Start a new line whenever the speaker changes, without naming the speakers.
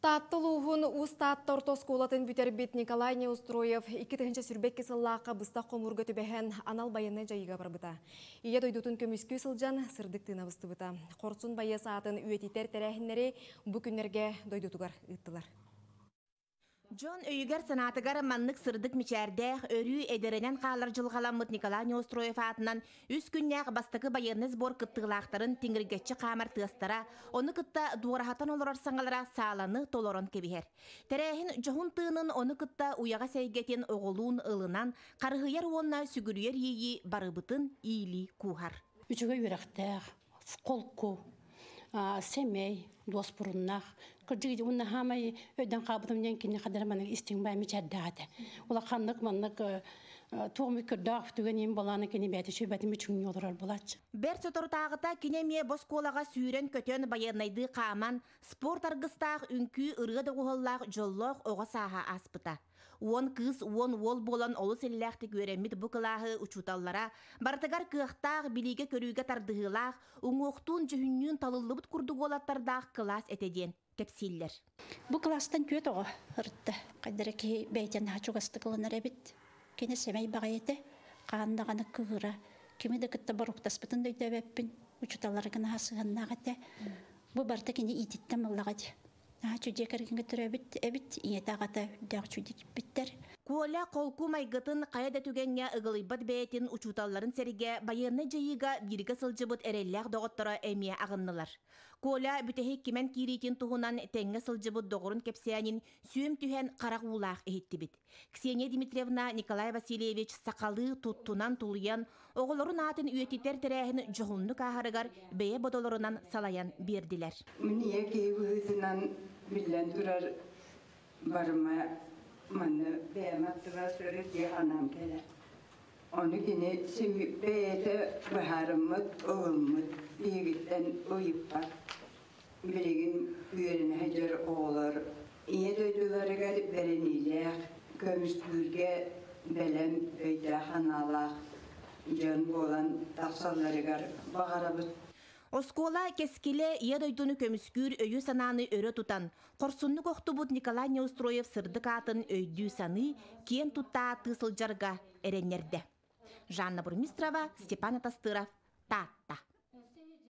Таатта улууһун Уус Таатта орто оскуолатын бүтэрбит Николай Неустроев икки тыһыынча сүүрбэкки сыллаахха быстах хомуурга түбэһэн анал байыаннай дьайыыга барбыта. Ийэ дойдутун көмүскүү сылдьан сырдык тыына быстыбыта. Хорсун байыас аатын үйэтитэр тэрээһиннэри бу күннэргэ дойдутугар ыыттылар.
Дьон өйүгэр-санаатыгар маннык сырдык мичээрдээх, өрүү эдэрэнэн хаалар дьылҕаламмыт Николай Неустроев аатынан Үс күннээх бастакы байыаннай сбор кыттыылаахтарын тиҥиргэччи хаамар тыастара ону кытта дуораһатан олорор саҥалара сааланы толорон кэбиһэр. Тэрээһин дьоһун тыынын ону кытта уйаҕас эйгэтин оҕолуун ылынан харыһыйар уонна сүгүрүйэр иэйии барыбытын иилии кууһар. Үчүгэй үөрэхтээх,
холку, семей, дуоспуруннах, кырдьык уонна хаамай өйдөн хаабытым диэн кини хадара маннык истиҥ бай мичэрдээтэ. Улах ханнык маннык туом көрдөөх түгэн им болааны кини бэти шөбэтин мүчүҥнү олорор булач. Бэр соторутааҕыта
кини эмиэ боскуолаҕа сүүрэн-көтөн байыаннайдыы хааман, спорт аргыстаах үҥкүү ырыа доҕуһаллаах дьоллоох оҕо сааһа ааспыта. Уон кыыс, уон уол буолан олус иллээхтик үөрэммит бу кылааһы учууталлара барытыгар кыахтаах, билиигэ-көрүүгэ тардыһыылаах, уҥуохтуун-дьүһүннүүн талыллыбыт курдук уолаттардаах кылаас этэ диэн кэпсииллэр. Бу кылаастан
түөрт оҕо ырытта. Хайдара киһи бэйэтэ наһаа чугастык ылынар эбит. Кини сэмэй баҕайы этэ, хаан даҕаны кыыра. Кими да кытта боруоктаспытын да өйдөөбөппүн, учууталлара гынаһа сыһыаннаах этэ. Бу барыта кини иититтэн мыллаҕа дии. аа чудье кэргиҥҥэ төрөөбүт эбит ийэтэ аҕата үрдээх чудьичпиттэр Коля холку
майгытын хайа да түгэҥҥэ ыгылыйбат бэйэтин учууталларын сэригэ байыаннай дьайыыга бииргэ сылдьыбыт эрэллээх доҕотторо эмиэ аҕыннылар. Коля бүтэһик кимэн киириитин туһунан тэҥҥэ сылдьыбыт доҕорун кэпсээнин сүөм түһэн харах уулаах иһиттибит. Ксения Дмитриевна Николай Васильевич сахалыы туттунан тулуйан, оҕолорун аатын үйэтитэр тэрээһин дьоһуннук ааһарыгар бэйэ бодолорунан салайан биэрдилэр. Мин ийэ киһи
быһыытынан биллэн турар барыма манны бэйэм аттыбас өрүтү анам кэлэ. Ону кини бэйэтэ быһаарыммыт, ылыммыт биһигиттэн уйуппат. билигин үөрэнэ сылдьар оҕолор Ийэ дойдуларыгар бэриниилээх, көмүскүүргэ бэлэм өйдөөх-санаалаах дьон буолан тахсалларыгар баҕарабыт. Оскуола
кэскилэ ийэ дойдуну көмүскүүр өйү-санааны өрө тутан, хорсуннук охтубут Николай Неустроев сырдык аатын өйдүү-саныы, киэн тутта-ааттыы сылдьарга эрэннэрдэ. Жанна Бурмистрова, Степан Атастыров, Таатта.